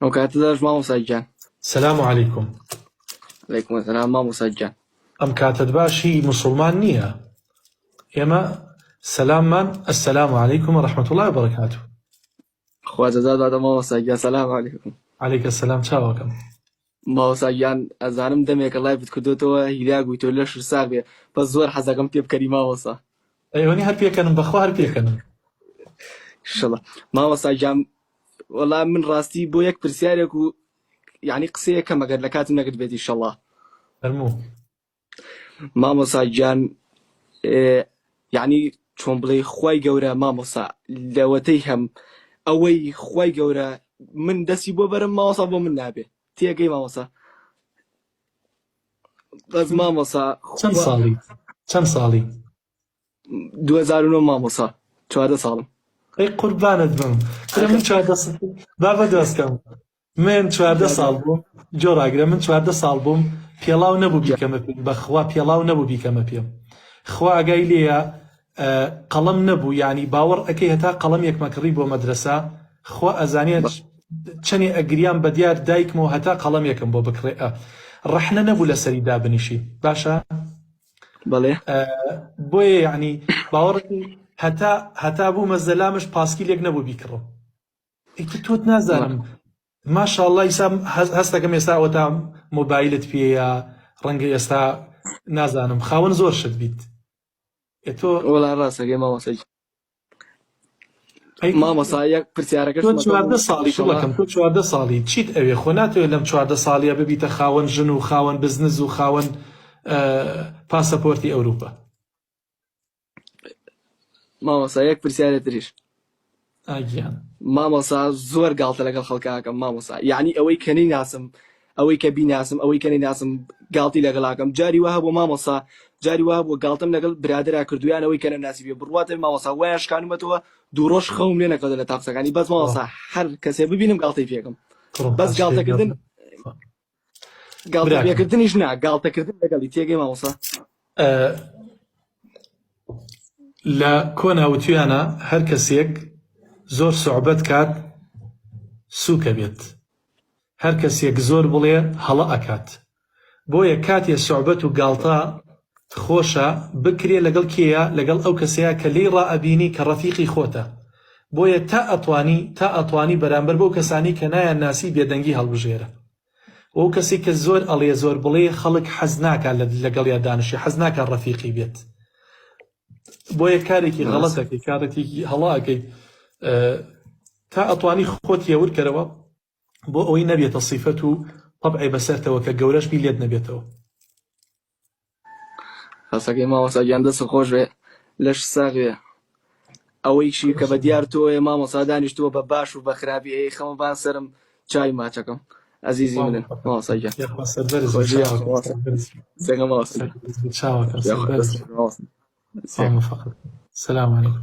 ئەو کاتە دەش مامۆسا گیان سلام علیکم علیکم سلام مامۆسا گیان ئەم کاتت باش هی مسلمان نییە ئێمە سەلاممان السلام علیکم رحمت الله وبرکاته خوازەزاد بادە مامۆسا گیان سلام علیکم علیکە سلام چاوەکەم مامۆستا گیان ئەزانم دەمێکە لایڤت کردۆتەوە هیلاک بووی تۆ لەشت ساغ بێ بەس زۆر حەزەکەم پێ بکەنی مامۆستا. ئەیوەنی هەر پێکەنم بەخوا هەر پێکەنم. ئیشەڵا مامۆستا گیان وەڵا من ڕاستی بۆ یەک پرسیارێک و یانی قسەیەک کەمە گەر لە کاتم نەگرت بێت ئیشەڵا. فەرموو. مامۆسا گیان یەعنی چۆن بڵێی خوای گەورە مامۆسا لەوەتەی هەم ئەوەی خوای گەورە من دەسی بۆ بەرم مامۆسا بۆ من نابێ تێگەی مامۆسا بەس مامۆسا چەند ساڵی چەند ساڵی 2009 مامۆسا چواردە ساڵم ئەی قوربانت بم کرە من چواردە بابە دۆستکەم من چواردە ساڵ بووم جۆ ڕاگرە من چواردە ساڵ بووم پێڵاو نەبوو بیکەمە پێم بەخوا پێڵاو نەبوو بیکەمە پێم خوا ئاگای لێە قەڵم نەبوو ینی باوەڕ ئەەکەی هەتا قەڵم یەکمەکڕی بۆ مەدرسە خوا ئەزانە چەنێ ئەگریان بە دیار دایکمەوە هەتا قەڵم یەکم بۆ بکڕێ ڕەحنە نەبوو لە سەری دابنیشی باشە بەڵێ بۆیە یعنی باوەڕ هەتا هەتا بوو مەزەلامش پاسکی لێک نەبوو بیکڕم ئیتر تۆت نازانم ماشاءاللە ئیسا هەستەکەم ئێستا ئەوەتا مۆبایلت پێەیە ڕەنگە ئێستا نازانم خاوەن زۆر شت بیت تۆ وڵا ڕاستەکەی مامۆسا مامۆسا یەک پرسیارەکە چواردە ساڵی کوڵەکەم تۆ چواردە ساڵی چیت ئەوێ خۆ ناتەوێت لەم چواردە ساڵیە ببیتە خاوەن ژن و خاوەن بزنز و خاوەن پاسەپۆرتی ئەوروپا مامۆسا یەک پرسیارە تریش ئاگیان مامۆسا زۆر گاڵتە لەگەڵ خەڵکاکەم مامۆسا یعنی ئەوەی کەنەی ناسم ئەوەی کە بیناسم ئەوەی کەنەی ناسم گاڵتی لەگەڵاکەم جاری وە هەبوو مامۆسا جاری وە بۆ گاڵتم لەگەڵ برادرا کردویان ئەوەی کەنە ناسی بێ بڕواتە مامۆسا وایە شکانمەتەوە دوو ڕۆژ خەوم لێ نەکەوتە لە تاقسەکانی بەس مامۆسا هەر کەسێ ببینم گاڵتەی پێکم بەس گاڵتەکردن گاڵتەکردنیش نا گاڵتەکردن لەگەڵی تێگەی ماوەسا لە کۆنا وتویانە هەر کەسێک زۆر سوعبەت کات سوکە بێت هەر کەسێک زۆر بڵێ هەڵە ئەکات بۆیە کاتێ سوعبەت و گاڵتە خۆشە بکرێ لەگەڵ کێیە لەگەڵ ئەو کەسەیا کە لێی ڕائەبینی کە ڕەفیقی خۆتە بۆیە تا ئەتوانی تا ئەتوانی بەرامبەر بەو کەسانەی کە نایان ناسی بێدەنگی هەڵبژێرە وەو کەسەی کە زۆر ئەڵێ زۆر بڵێ خەڵک حەز ناکا لەگەڵیا دانشی حەز ناکا ڕەفیقی بێت بۆیە کارێکی غەڵەت ئەکەی کارەتێکی هەڵە ئەکەی تا ئەتوانی خۆت هێور کەرەوە. بۆ ئەوەی نەبێتە صیفەت و طبعێ بەسەرتەوە کە گەورەش بی لێت نەبێتەوە. قسەکەی مامۆستا گیان دەست خۆش بێ لەش ساغ بێ ئەوەیشی کە بە دیار تۆیە مامۆستا دانیشتووە بە باش و بە خراپی ئەی خەمە بان سەرم چای ماچەکەم ئەزیزی منن مامۆستا گیان سەربەرز سلام علیکم